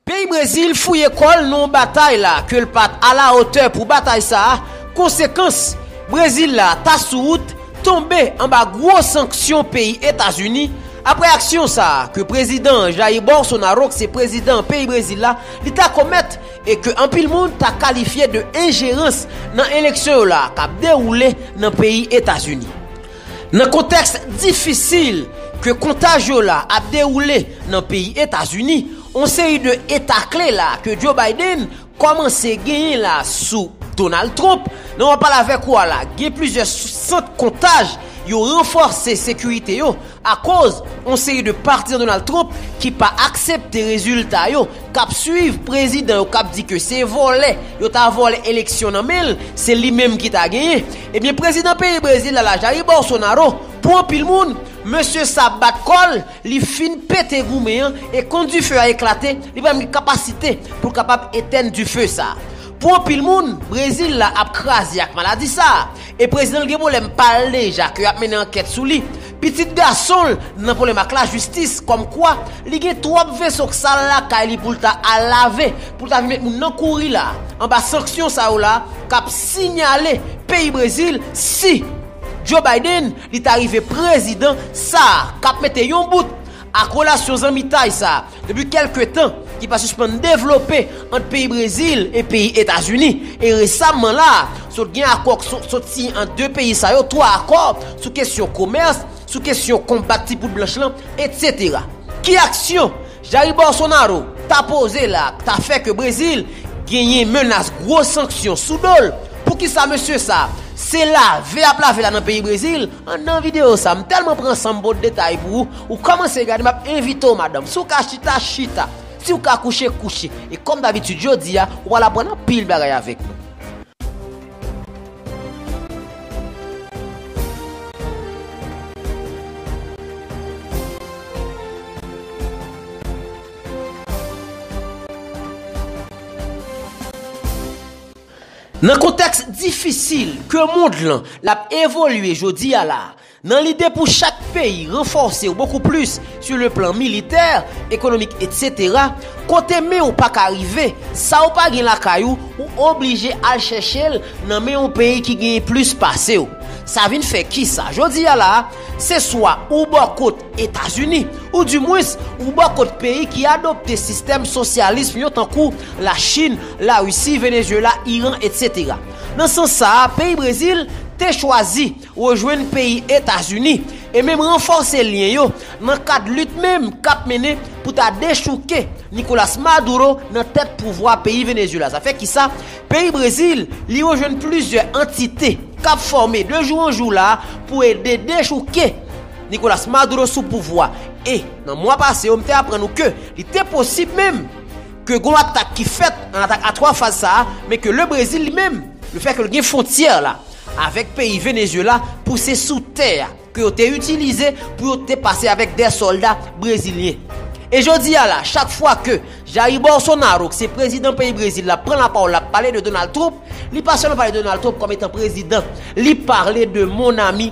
Peyi Brezil fouye kò l nan yon batay la ke l pat alawotè pou batay sa, konsekans, Brezil la ta sou wout tonbe anba gwo sanksyon peyi Etazini apre aksyon sa ke Prezidan Jair Bolsonaro k se prezidan peyi Brezil la li ta komèt e ke anpil moun ta kalifye de enjerans nan eleksyon yo la kap dewoule nan peyi Etazini. Nan kontèks difisil ke kontaj yo la ap dewoule nan peyi Etazini, on seri de eta kle la ke Joe Biden kòmanse genyen la sou Donald Trump, nan wap pale avèk ou a la gen plizyè sant kontaj yo ranfòse sekirite yo akoz on seri de patizan Donald Trump ki pa aksepte rezilta yo kap swiv prezidan yo kap di ke se vòlè yo ta vòlè eleksyon nan men l se li menm ki ta genyen Ebyen prezidan peyi Brezil la la Jair Bolsonaro pou anpil moun mesye sa bat kòl li fin pete goumen an e kon dife a eklate li pa menm gen kapasite poul kapab etèn dife sa pou anpil moun Brezil la ap kraze ak maladi sa e prezidan l gen pwoblèm pal deja ke yap mennen ankèt sou li Pitit gason l nan pwoblèm ak lajistis kòm kwa li gen twòp veso k sal lakay li pou l ta al lave, pou l ta vin met moun nan kouri la anba sanksyon sa yo la k ap sinyale peyi Brezil si Joe Biden li ta rive prezidan sa k ap mete yon bout Ak relasyon zanmitay sa depi kelke tan ki pa sispann devlope ant peyi Brezil e peyi Etazini, e resamman la a sot gen akò k sot siyen ant 2 peyi sa yo, 3 akò sou kesyon komès, sou kesyon konbat ti poud blanch lan, etc. Ki aksyon Jair Bolsonaro ta poze la a k ta fè ke Brezil genyen menas gwo sanksyon sou do l? Poukisa mesye sa se lave y ap lave la nan peyi Brezil? An nan video sa, m telman pran sanm pot detay pou ou, ou komanse gade map envite w madanm, si w ka chita, chita, si w ka kouche, kouche, e kom dabitid jodi a, ou pral aprann anpil bagay avek nou. Nan kontèks difisil ke mond lan l ap evolye jodi a la, nan lide pou chak peyi ranfòse w bokou plis sou le plan militè, ekonomik etc, kote men w pa ka rive, sa w pa gen lakay ou, ou oblije al chèche l nan men yon peyi ki genyen plis pase w. Sa vin fè kisa? Jodi a la, se swa ou bò kot Etazini, ou di mwens, ou bò kot peyi ki adopte sistèm sosyalism yo tankou, Lachin, Larisi, Venezyela, Iran, etc. Nan sans sa a, peyi Brezil te chwazi rejwenn peyi Etazini e menm ranfòse lyen yo nan kad lit menm k ap mennen pou ta dechouke Nicolas Maduro nan tèt pouvwa peyi Venezyela. Zafè ki sa, peyi Brezil, li rejwenn plizyè antite k ap fòme de jou an jou la pou ede dechouke Nicolas Maduro sou pouvwa e nan mwa pase yo m te aprann ou ke li te posib menm ke gon atak ki fèt nan atak a 3 faz sa a men ke le Brezil li menm le fèt ke l gen fwontyè la avèk peyi Venezuela pou se sou tè a ke yo te itilize pou yo te pase avèk dè sòlda Brezilyen e jodi a la chak fwa ke Jair Bolsonaro ki se prezidan peyi Brezil la pran la pawòl l ap pale de Donald Trump li pa sèlman pale de Donald Trump kòm etan prezidan li pale de mon ami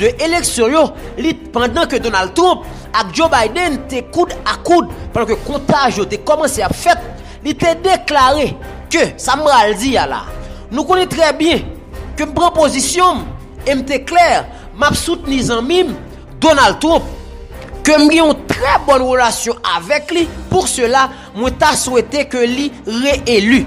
2 eleksyon yo li pandan ke Donald Trump ak Joe Biden te koud a koud pandan ke kontaj yo te kòmanse ap fèt, li te deklare ke sa m pral di a la, nou konnen trè byen ke m pran pozisyon m e m te klè m ap soutni zanmi m Donald Trump ke m gen yon trè bòn relasyon avèk li pou sela mwen ta swete ke li re-eli.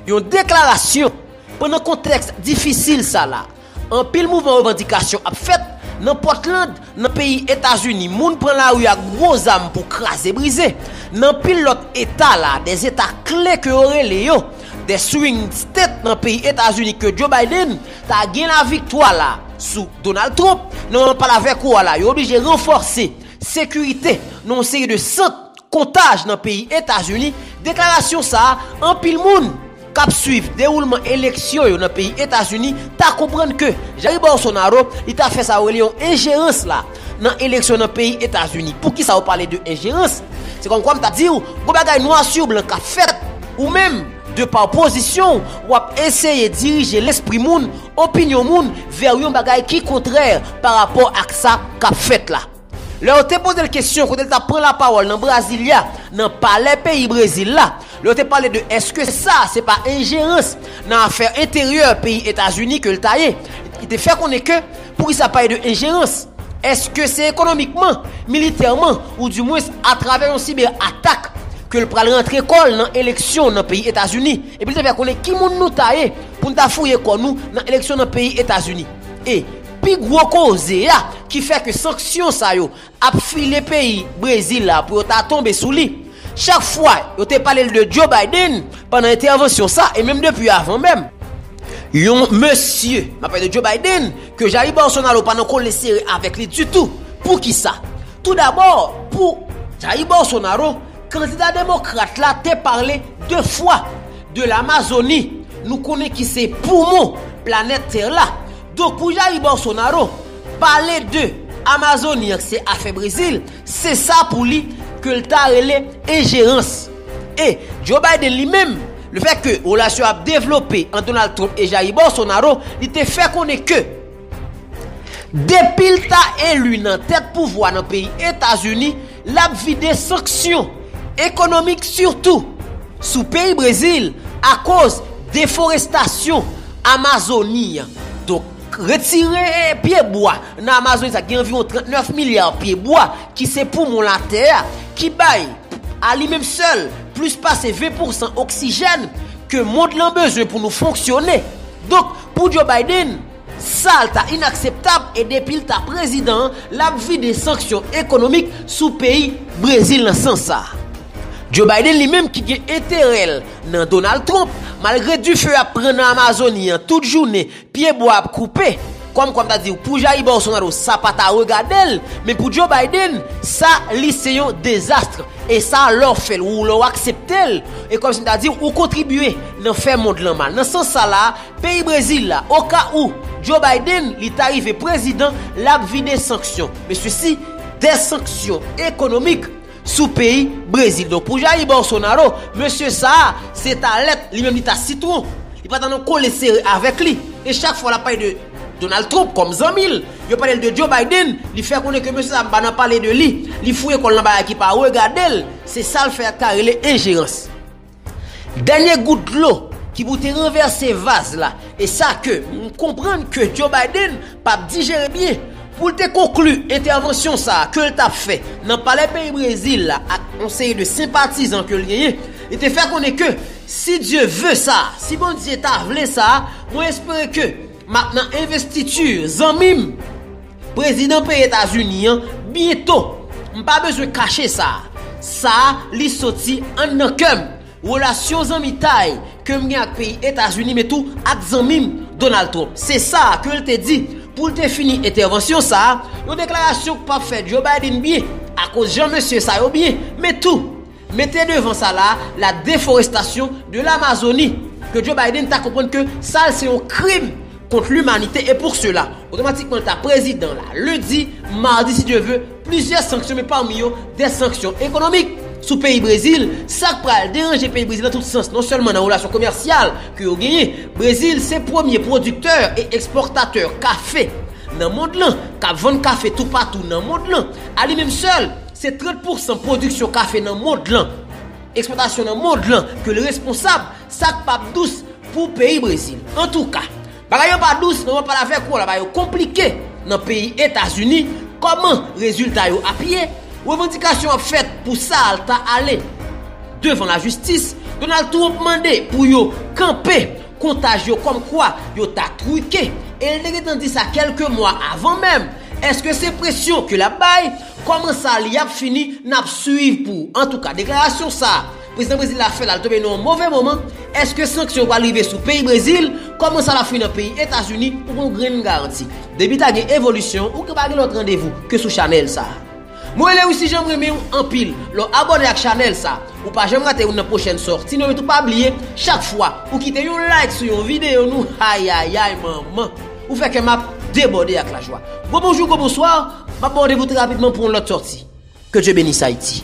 Yon deklarasyon pandan kontèks difisil sa la. Anpil mouvman revandikasyon ap fèt, nan Portland, nan peyi Etazini moun pran lari ak gwo zam pou kraze brize, nan anpil lòt eta la, de zeta kle ke yo rele yo, de swing state nan peyi Etazini ke Joe Biden ta gen laviktwa la sou Donald Trump, nan moman m ap pale avèk ou a la yo oblije ranfòse sekirite nan yon seri de sant. Kontaj nan peyi Etazini, deklarasyon sa a, anpil moun kap swiv dewoulman eleksyon yo nan peyi Etazini ta konprann ke Jair Bolsonaro li ta fè sa yo rele yon enjerans la nan eleksyon nan peyi Etazini. Poukisa ou pale de enjerans? Se kòmkwa m ta di ou, gon bagay nwa sur blan kap fèt, ou menm, de pa pozisyon ou, wap eseye dirije lespri moun, opinyon moun, vè yon bagay ki kontrè pa rapò ak sa kap fèt la. Lè yo te poze l kesyon kote l t ap pran lapawòl nan Brasilia, nan palè peyi Brezil la, lè yo te pale de èske sa a se pa enjerans nan afè enteryè peyi Etazini ke l ta ye, li te fè konnen ke poukisa pale de enjerans, èske se ekonomikman, militèman ou di mwens atravè yon sibè atak ke l pral rantre kò l nan eleksyon nan peyi Etazini. Epi l te fè konnen ki moun nou ta ye pou n ta fouye kò nou nan eleksyon nan peyi Etazini. E. Pi gwo koze a ki fè ke sanksyon sa yo ap file peyi Brezil la pou yo ta tonbe sou li. Chak fwa yo te pale l de Joe Biden pandan entèvansyon sa e menm depi avan menm. Yon mesye, m ap pale de Joe Biden, ke Jair Bolsonaro pa nan kole sere avèk li ditou. Poukisa? Tou dabò, pou Jair Bolsonaro, kandida demokrat la te pale de fwa de Lamazoni, nou konnen ki se poumon planèt tè la. Dokou Jair Bolsonaro pale de Amazoni an k se afè Brezil, se sa pou li ke l ta rele enjerans. E Joe Biden li menm, le fèt ke relasyon ap devlope ant Donald Trump e Jair Bolsonaro, li te fè konnen ke depi l ta eli nan tèt pouvwa nan peyi Etazini, L ap vide sanksyon ekonomik sitou sou peyi Brezil akoz deforestasyon Amazoni an. Donk, retire pye bwa nan Amazoni sa gen anviwon 39 milya pye bwa ki se poumon latè a, ki bay a li menm sèl plis pase 20 pousan oksijèn ke mond lan bezwen pou nou fonksyone. Donk, pou Joe Biden. Sal ta inakseptab e depil ta prezidan an lap vide sanksyon ekonomik sou peyi Brezil nan sans sa. Joe Biden li menm ki gen enterèl nan Donald Trump malgre dife ap pran nan Amazoni an tout jounen pye bwa ap koupe kòm kwa m ta diw pou Jair Bolsonaro sa pa ta regadel men pou Joe Biden sa li se yon dezastre e sa lè w fèl ou lè w akseptel e kòm si m ta diw ou kontribye nan fè mond lan mal nan sans sa la Peyi Brezil la, oka ou Joe Biden li ta rive prezidan, lap vide sanksyon, men sesi dè sanksyon ekonomik sou peyi Brezil. Donk pou Jair Bolsonaro, mesye sa a se ta lèt, li menm li ta sitwon, li pa ta nan kole sere avèk li. E chak fwa lap pale de Donald Trump kòm zanmi l, yo pale l de Joe Biden, li fè konnen ke mesye sa a pa nan pale de li, li fouye kò l nan bagay ki pa regade l, se sa l fè ak ta rele enjerans. Dènye gout dlo ki pou te ranvèse vaz la e sa ke m konprann ke Joe Biden p ap dijere byen pou l te konkli entèvansyon sa a ke l t ap fè nan palè peyi Brezil la ak yon seri de senpatizan ke l genyen, li te fè konnen ke si Dye ve sa, si Bondye ta vle sa, mwen espere ke. Map nan investiture zanmim. Prezidan peyi etazini an byento m pa bezwen kache sa sa li soti an nan kèm relasyon zanmitay kem gen ak peyi etazini men tou ak zanmim Donald Trump se sa kel te di poul te fini entèvansyon sa yon deklarasyon k pap fè Joe Biden byen akoz jan mesye sa yo byen men tou Mete devan sa la, la deforestation de l'Amazonie, ke Joe Biden ta konprann ke sa l se yon krim kont limanite e pou sela, otomatikman l ta prezidan la, lendi, mardi si Dye ve, plizyè sanksyon men pami yo de sanksyon ekonomik sou peyi Brezil, sa k pral deranje peyi Brezil nan tout sans, non sèlman nan relasyon komèsyal ke yo genyen, Brezil se premye pwodiktè e ekspòtatè kafe nan mond lan, k ap vann kafe toupatou nan mond lan, a li menm sèl. Se 30 pousan pwodiksyon kafe nan mond lan, ekspòtasyon nan mond lan ke l responsab, sa k pap dous pou peyi Brezil. Antouka, bagay yo pa dous men mwen pale avèk ou la bagay yo konplike nan peyi Etazini, kòman rezilta yo ap ye, revandikasyon ap fèt pou sa al ta ale devan lajistis, Donald Trump mande pou yo kanpe kontaj yo kòm kwa yo ta truke e l te gentan di sa kèlke mwa avan menm, èske se presyon ke l ap bay? Kòman sa li ap fini nap swiv pou antouka deklarasyon sa prezidan brezil la fè la li tonbe nan yon move moman eske sanksyon pral rive sou peyi brezil kòman sa lap fini nan peyi etazini ou gon grenn garanti depi ta gen evolisyon ou ka pa gen lòt randevou ke sou chanèl sa mwen rele wisi jan m renmenw anpil lè w abòne ak chanèl sa ou pa janm rate youn nan pwochèn sòti nou epi tou pa bliye chak fwa ou kite yon like sou yon videyo nou ayayay manman. Ou fè kè m ap debòde ak lajwa. Gwo bonjou, gwo bonswa, m ap ba w randevou trè rapidman pou yon lòt sòti. Ke Dye benis Ayiti!